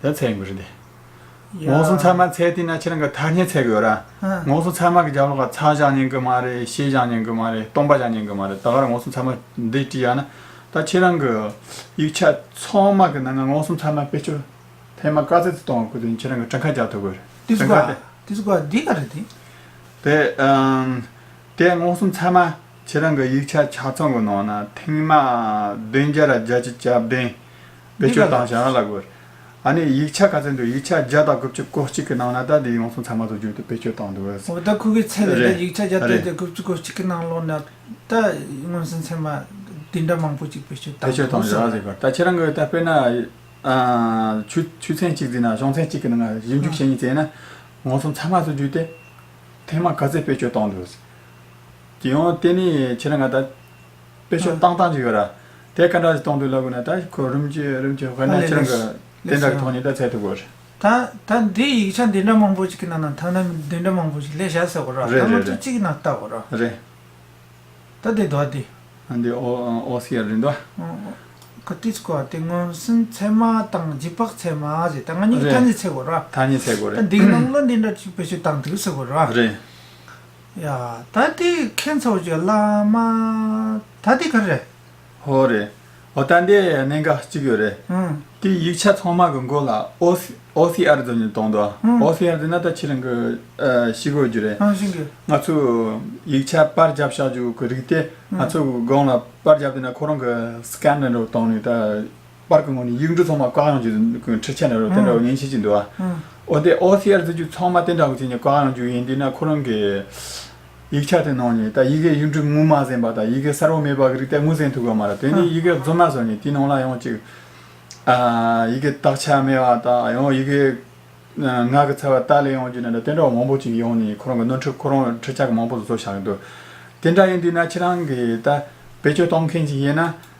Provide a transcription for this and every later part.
ད་ཚད་ཡིན་པ་རེད་དེ། ངོགས་སུ་ཚར་མ་ཚད་དེ་ན་ཁྱེད་རང་གི་ཐ་སྙད་ཚད་གི་ཡོད་ར། ངོགས་སུ་ཚར་མ་གི་རྒྱབ་ལོག་ལ་ཚ་བཞག་ཉན་གི་མ་རེད་ཤེས་བཞག་ཉན་གི་མ་རེད་སྟོང་པ་བཞག་ཉན་གི་མ་རེད་ད་ག་ར་ངོགས་སུ་ཚར་མ་འདི་བྲིས་ཡག་ན། ད་ཁྱེད་རང་གི་ཡིག་ཆ་ཚང་མ་གི་ནང་ན་ངོགས་སུ་ཚར་མ་དཔེ་སྤྱོད་ཐེངས་མ་དཀར་ཙིག་ཙིག་གཏོང་བ་ཁུ་དེ་ཁྱེད་རང་གི་བྲང་ཁ་རྒྱག་ཐུབ་གི་རེད། དེ་ཚོ་ག་རེད་དེ་ཚོ་ག་རེད་འདི་ག་རེད་དེ། དེ་ཨང། དེ་ངོགས་སུ་ཚར་མ་ཁྱེད་རང་གི་ཡིག་ཆ་ཆ་ཚང་གི་ནང་ན་ཐེངས་མ་བདུན་བརྒྱ་ར་བརྒྱ་ཅི་བྱབ་བདུན། བེད་སྤྱོད་བཏང་བྱ་ཡང་ལ་དགོས། ཨ་ནི་ཡིག་ཆ་ག་ཚོད་འདུག་ཡིག་ཆ་བརྒྱ་དང་དགུ་བཅུ་གོ་གཅིག་གི་ནང་ན་ད་དེ་ཡོང་སོང་ཚང་མ་ཚོ་བརྒྱུད་དུ་བེད་སྤྱོད་བཏང་འདུག་ཨོ་ད་ཁོ་གི་ཚེ་ལས་ད་ཡིག་ཆ་བརྒྱ་དང་དགུ་བཅུ་གོ་གཅིག་གི་ནང་ལོག་ན་ད་མངོན་སུམ་ཚན་མ་དེ་འདྲ་མང་པོ་ཅིག་བེད་སྤྱོད་བཏང་འདུག་ཟེར་བ། ད་ཁྱེད་རང་གི་ད་དཔེར་ན་ཆུ་ཆུ་ཚན་གཅིག་བརྫིས་ན་གཞོང་ཚན་གཅིག་གི་ནང་བཞི་འཇུག་བྱེད་གཉིས་བཙལ་ན་ངོ་སོང་ཚང་མ་ཚོ་བརྒྱུད་དེ་ཐེངས་མ་ག་ཚོད་བེད་སྤྱོད་བཏང་འདུག་ཟེར། དེ་ཡང་དེ་ནི་ཁྱེད་རང་ང་ད། དཔེ་ཆ་བཏང་སྟངས་ཅིག་ཡོད་ར། དེ་ག་འདྲ་ཞིག་གཏོང་འདོད་ལབ་དགོས་ན་ད་ཁོས་རུམ་གྱི་རུམ་གྱི་དབེན་ན་ཁྱེད་རང་གི་དེ་འདྲ་གི་ཐོག་ནས་ད་ཚད་ཐུབ་དགོས་རེད། ད་ད་འདི་ཡིག་ཆ་འདི་འདྲ་མང་པོ་ཅིག་གི་ནང་ན་ཐང་ན་འདི་འདྲ་མང་པོ་ཅིག་ལས་བྱ་ཟེར་དགོས་ར། རེད་ད་རེད་ང་ཚོ་རེད། གཅིག་གི་ནང་བལྟ་དགོས་ར། རེད། ད་འདི་འདོག་འདི། འདི་ཨོ་ཨོ་སི་ཡར་རེད་འདོག། ཨོ་ཨོ་ཀ་ཏིས་ཀོ་དེ་མངོན་སུམ་ཚད་མ་དང་བརྗིད་བག་ཚད་མ་ཟེར་ད་ང་གཉིས་ཀྱི་ཐ་སྙད་ཚད་དགོས་ར། ཐ་སྙད་ཚད་དགོས་རེད། ད་འདི་གི་ནང་བློ་འདི་འདྲ་ཅིག་བེད་སྤྱོད་བཏང་འདུག་ཟེར་དགོས་ར། རེད། ཡ། ད་འདི་ཁྱེད་ཚོ་ཀྱི་བླ་མ། ད་འདི་ག་རེད། ཧོ་རེད། ཨོ་ད་འདི་གནད་འགག་གཅིག་ཡོད་རེད། དེའི་ཡིག་ཆ་ཚང་མ་གི་མགོ་ལ OCR འཛོམས་ནས་གཏོང་འདུག OCR འདི་ན་ད་ཁྱེད་རང་གི་ཤི་དགོས་རྒྱུ་རེད། ང་ཚོས་ཡིག་ཆ་པར་བརྒྱབ་བཞག་རྒྱུ་གི་རིགས་དེ་ང་ཚོས་སྒང་ལ་པར་བརྒྱབ་དེ་ན་ཁོ་རང་གི Scanner རུ་གཏོང་ནས་ད། པར་གྱི་ངོས་ནས་ཡིག་འབྲུ་ཚང་མ་བཀའ་གཡང་བརྒྱུད་དུ་ཁྲིད་ཆས་གནང་རོགས་དེ་འདྲ་བ་ངས་བྱེད་ཀྱི་འདུག་འོ་དེ OCR བརྩི་རྒྱུ་ཚང་མ་དེ་འདྲ་བ་བྱས་ནས་བཀའ་གཡང་བརྒྱུད་ཡིན་དུས་ན་ཁོ་རང་གི་ཡིག་ཆ་དེ་ནང་ནས་ད་ཡི་གེ་ཡིག་འབྲུ་དངོས་མ་གཟན་པ་དང་ཡི་གེ་གསར་བ་མེད་པ་གི་རིགས་དེ་དངོས་གཟན་ཐུབ་གི་མ་རེད་དེ་ནས་ཡི་གེ་རྫུན་མ་བཟོ་ནས་དེ་ནང་ལ་ཡང་ཅིག་ཡི་གེ་དག་ཆ་མེད་བ་དང་ཡང་ཡི་གེ་ངག་གི་ཚ་བ་དག་ལས་ཡང་བརྒྱུད་ནས་དེ་འདྲ་བ་མང་པོ་ཅིག་ཡོང་ནས་ཁོ་རང་གི་ནོར་འཁྲུལ་ཁོ་རང་ཁྲིད་ཆག་མང་པོ་བཟོ་བཞག་གི་འདུག་དེ་འདྲ་ཡིན་དུས་ན་ཁྱེད་རང་གི་ད་བེད་སྤྱོད་གཏོང་མཁན་ཅིག་ཡིན་ན་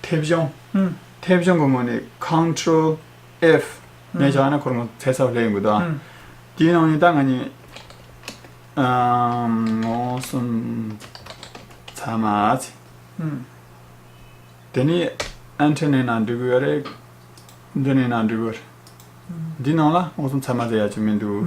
མཐེབ་གཞོང། མཐེབ་གཞོང་གི་ངོས་ནས Control F ནས་བཞག་ན་ཁོར་མོ་ཚད་གསལ་བོ་ལེན་དགོས་དང། དེའི་ནང་ནས་ད་ང་ནི། མངོན་སུམ་ཚང་མ་ཚེ། དེ་ནས Enter ནས་ནང་འབྲི་དགོས་རེད། འདི་ནས་ནང་འབྲི་དགོས། འདི་ནང་ལ་མངོན་སུམ་ཚང་མ་ཚེ་ཡག་ཅིག་མི་འདུག།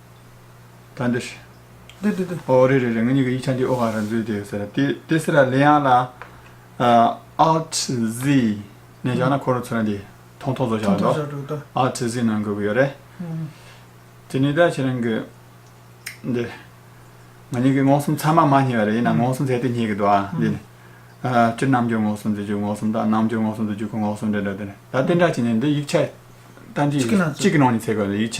ད་འདི། འདི་འདི་འདི། ཨོ་རེད་རེད་རེད་ང་གཉིས་ཀྱི་ཡིག་ཆ་འདི་ཨོ་ཧ་རན་ཟོས་དེ་ཟེར་དེ་དེ་སེ་ར་ལེ་ཡང་ལ Alt Z ནས་བཞག་ན་ཁོ་རང་ཚོ་རང་དེ་ཐོང་ཐོང་བཟོ་བཞག་འགྲོ་འགྲོ་འགྲོ Alt Z ནང་དགོས་ཀྱི་ཡོད་རེད། དེ་ནས་ད་ཁྱེད་རང་གི་འདི་ང་གཉིས་ཀྱི་ངོ་སུམ་ཚང་མ་མ་ཉེ་བ་རེད་ཡིན་ན་ངོ་སུམ་ཟེར་དེ་ཉེ་གི་འདུག་ཨ་འདི་ནི། སྤྱིར་རྣམ་འགྱུར་ངོ་སུམ་ཟེར་རྒྱུ་ངོ་སུམ་དང་རྣམ་འགྱུར་ངོ་སུམ་ཟེར་རྒྱུ་ཁོ་ངོ་སུམ་རེད་འདུག་དེ་ནི་ད་གཏན་འཇགས་བྱས་ནས་འདི་ཡིག་ཆ་གཏམ་རྒྱུད་གཅིག་གི་ནང་ནས་ཚེ་ག་ཡིག་ཆ